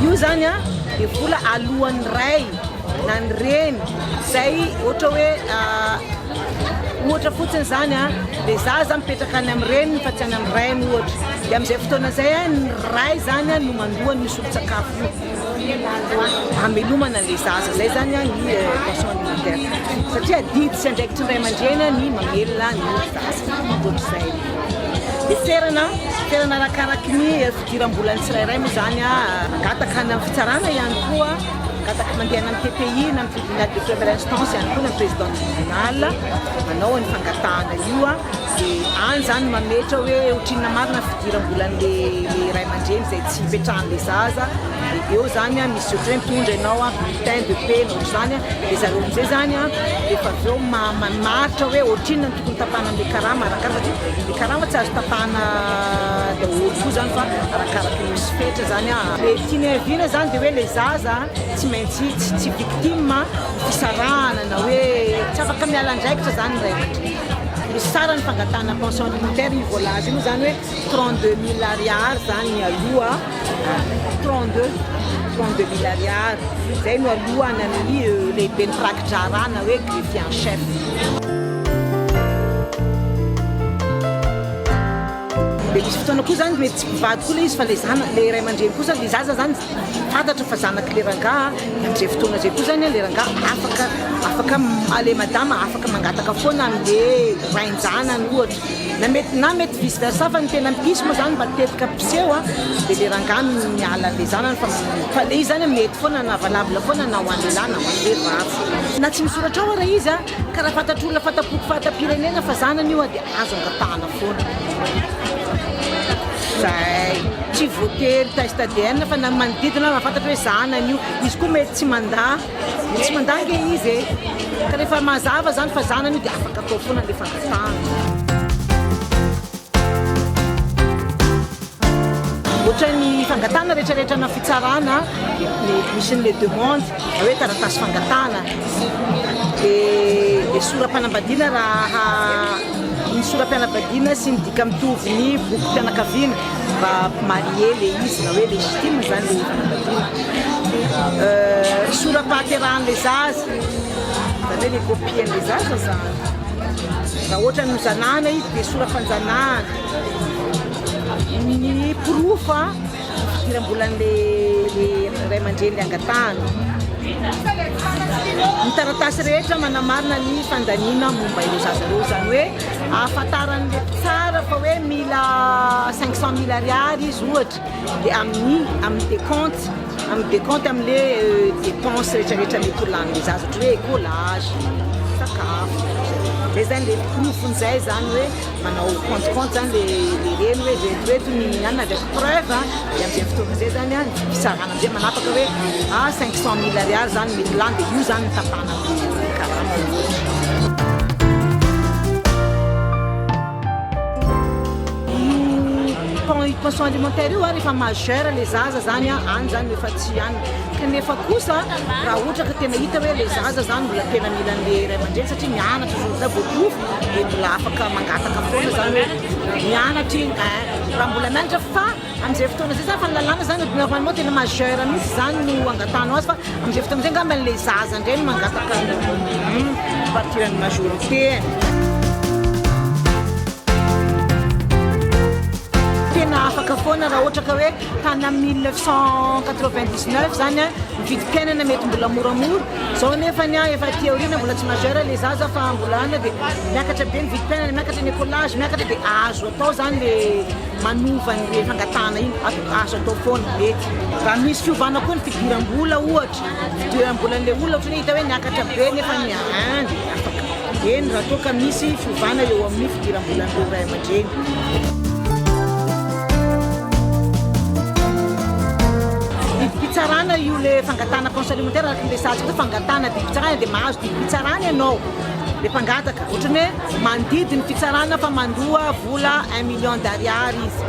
Io zany a dia vola aloan'ny ray na ny reny zay ohatra hoe ohatra fotsiny zany a dia zaza mipetraka any amin'ny reniny fa tsy any amin'ny rainy ohatra dia amin'izay fotoana izay ny ray zany no mandoa ny solon-tsakafo io. Hamelomana an'ilay zaza izay izany ny pension alimentaire satria adidy sy andraikitry ny ray aman-dreny ny mamelona ny zaza, ohatr'izay. Dia toerana, toerana arakaraky ny fidiram-bolan'ny tsirairay moa izany, mangataka any amin'ny fitsarana ihany koa, mangataka mandehana amin'ny TPI na amin'ny tribunal de première instance ihany koa na ny président du tribunal manao ny fangatahana io. Dia any izany mametra hoe otrinona marina ny fidiram-bolan'le le ray aman-dreny izay tsy ipetrahan'le zaza, dia eo izany an, misy ohatran'ny hoe mitondra ianao an, bulletin de paie na ohatr'izany an, dia zareo amin'izay izany an, rehefa avy eo ma- mamaritra hoe otrinona no tokony tapahana an'le karama arakaraka satria le karama tsy azo tapahana daholo koa izany fa arakaraka ny misy fetra izany an. Le tiany ahiviana izany dia hoe le zaza tsy maintsy tsy tsy victime ny fisarahana na hoe tsy afaka miala andraikitra izany ny ray aman-dreny. Ny saran'ny fangatahana pension alimentaire io voalaza io moa zany hoe 32 mille ariary zany ny aloha 32 32 mille ariary zay no alohany amin'ny euh, lehibe ny rakidrarana hoe greffier en chef Dia misy fotoana koa zany mety tsy mpivady koa ilay izy fa ilay zanaka, ilay ray aman-dreny kosa, ilay zaza zany fantatra fa zanak'ilay rangaha, dia amin'izay fotoana izay koa zany ilay rangaha afaka, afaka, ilay madama afaka mangataka foana an'ilay rain-janany ohatra, na mety, na mety vice versa fa ny tena mpisy moa zany mba tetika mpiseho an, dia ilay rangaha no miala an'ilay zanany fa, fa ilay izy zany an mety foana na valable foana na ho an'ny lehilahy na ho an'ny vehivavy. Na tsy misoratra ao ary ilay izy an, Ka raha fantatr'olona fanta-poko fahatapirenena fa zanany io dia azo angatahana foana. Zay tsy voatery test ADN fa na manodidina aza mahafantatra hoe zanany io. Izy koa mety tsy mandà, tsy mandà ange izy e. Ka rehefa mazava zany fa zanany io dia afaka atao foana le fangatahana. Ohatran'ny fangatahana retraretra ana fitsarana dia mety misy an'le demande. Raha hoe taratasy fangatahana dia sora-panambadiana raha ny sora-pianabadiana sy ny dika mitovy ny bokim-pianakaviana mba marié le izy na hoe légitime izany le fanambadiana. Sora-pahaterahan'ilay zaza izany hoe ny kopian'ilay zaza izany. Raha ohatra ny zanahana izy dia sora-panjanahana. Ny porofo a! Fidiram-bolan'ilay raiamandreny angatahana. Ny taratasy rehetra manamarina ny fandaniana momba ireo zaza ireo, izany hoe ahafantaran'ilay mpitsara fa hoe mila cinq cent mille ariary izy ohatra, dia amin'ny amin'ny décompte, amin'ny décompte amin'ilay euh, dépense rehetrarehetra mety ho lanin'ny zaza, ohatra hoe écolage, sakafo, izay izany ilay porofon'izay izany hoe. manao compte compte zany le le reny hoe zay toeto ny anona de preuve a de amizay fotoana zay zany a fisarana amizay manapaka hoe a ah, cinq cent mille ariary zany mety lany de io zany tapahana amle karama ohatra pension alimentaire io a rehefa majeur le zaza zany a any zany efa tsy any kanefa kosa raha ohatra ka tena hita hoe le zaza zany mbola tena milan'le iray aman-dreny satria mianatra zao zay voaporofo dia mbola afaka mangataka foana zany hoe mianatra iny eh, raha mbola mianatra fa amin'izay fotoana izay zany fa ny lalàna zany normalement tena majeur mihitsy zany no angatahanao azy fa amin'izay fotoana izay angamba ilay zaza indray no mangataka hmm, partiran'ny majorité tena afaka foana raha ohatra ka hoe tany amin'ny 1999 zany eh, ny vidim-piainana mety mbola moramora Zao nefa ny ahy efa aty aoriana mbola tsy majeur le zaza fa mbola any de miakatra be ny vidim-piainana, miakatra ny écolage, miakatra de azo atao zany le manova ny le fangatahana iny, azo atao foana, mety. Raha misy fiovana koa ny fidiram-bola ohatra, fidiram-bolan'le olona ohatran'ny hoe hita hoe niakatra be nefa ny ahy de afaka. Eny, raha toa ka misy fiovana eo amin'ny fidiram-bolan'ireo ray aman-dreny. Didim-pitsarana io le fangatahana pension alimentaire araka ny resahantsika hoe fangatahana didim-pitsarana dia mahazo didim-pitsarana ianao le mpangataka. Ohatrany hoe mandidy ny fitsarana fa mandoa vola un million d'ariary izy.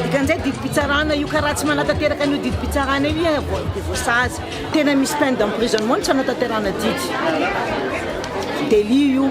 Dikan'izay didim-pitsarana io ka raha tsy manatanteraka an'io didim-pitsarana io iha dia voasazy. Tena misy peine d'emprisonnement ny tsy hanatanterahana didy. Délit io.